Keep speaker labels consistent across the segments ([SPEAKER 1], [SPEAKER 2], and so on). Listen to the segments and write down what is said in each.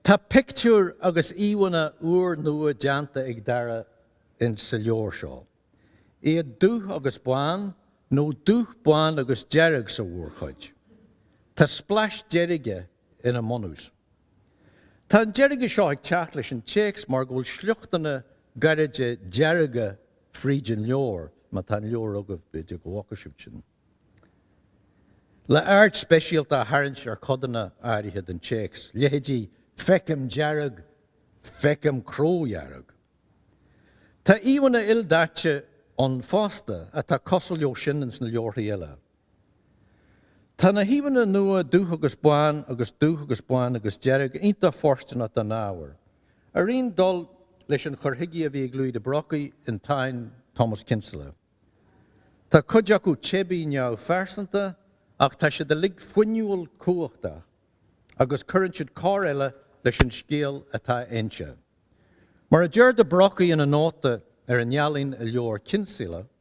[SPEAKER 1] Tá pictiúir agus íomhánna úr nua déanta ag Dara insa leabhar seo, iad dubh agus bán, nó dubh, bán agus dearg sa mhórchuid. Tá splais deirge ina mbunús. Tá an deirge seo ag teacht leis an téacs mar go bhfuil sliochtanna gairide dearga fríd an leabhar, má tá an leabhar agaibh, b'fhéidir go bhfaca sibh sin, le aird speisialta a tharraingt ar chodanna áirithe den téacs, leithéidí 'Feicim dearg', 'Feicim cró-dhearg'. Tá íomhanna ildaite ann fosta atá cosúil leo sin ins na leabharthaí eile. Tá na híomhanna nua dubh agus bán agus dubh agus bán agus dearg iontach fóirsteanach don ábhar, ar aon dul leis an chur chuige a bhí ag Louis le Brocquy i dTáin Thomas Kinsella. Tá cuid acu teibí neamhphearsanta ach tá siad uilig fuinniúil cumhachtach agus cuireann siad cor eile leis an scéal atá a inse. Mar a deir le Brocquy ina nóta ar an ealaín i leabhar Kinsella,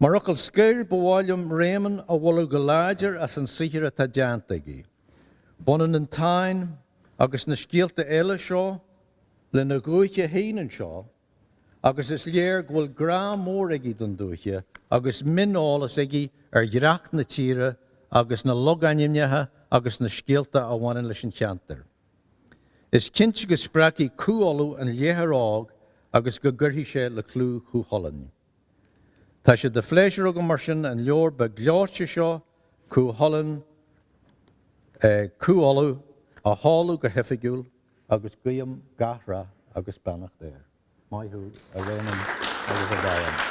[SPEAKER 1] Mar fhocal scoir, ba mhaith liom Réamonn a mholadh go láidir as an saothar atá déanta aige. Baineann an Táin, agus na scéalta eile seo, lena dhúiche féin anseo, agus is léir go bhfuil grá mór aige don dúiche agus mioneolas aige ar dhreach na tíre agus na logainmneacha agus na scéalta a bhaineann leis an cheantar. Is cinnte go spreagfaidh Cú Uladh an léitheoir óg agus go gcuirfidh sé le clú Chú Chulainn. Tá sé de phléisiúr agam mar sin an leabhar beag gleoite seo, Cú Chulainn, Cú Uladh, a sheoladh go hoifigiúil agus guím gach rath agus beannacht air. Maith thú, a Réamoinn agus a Mharion.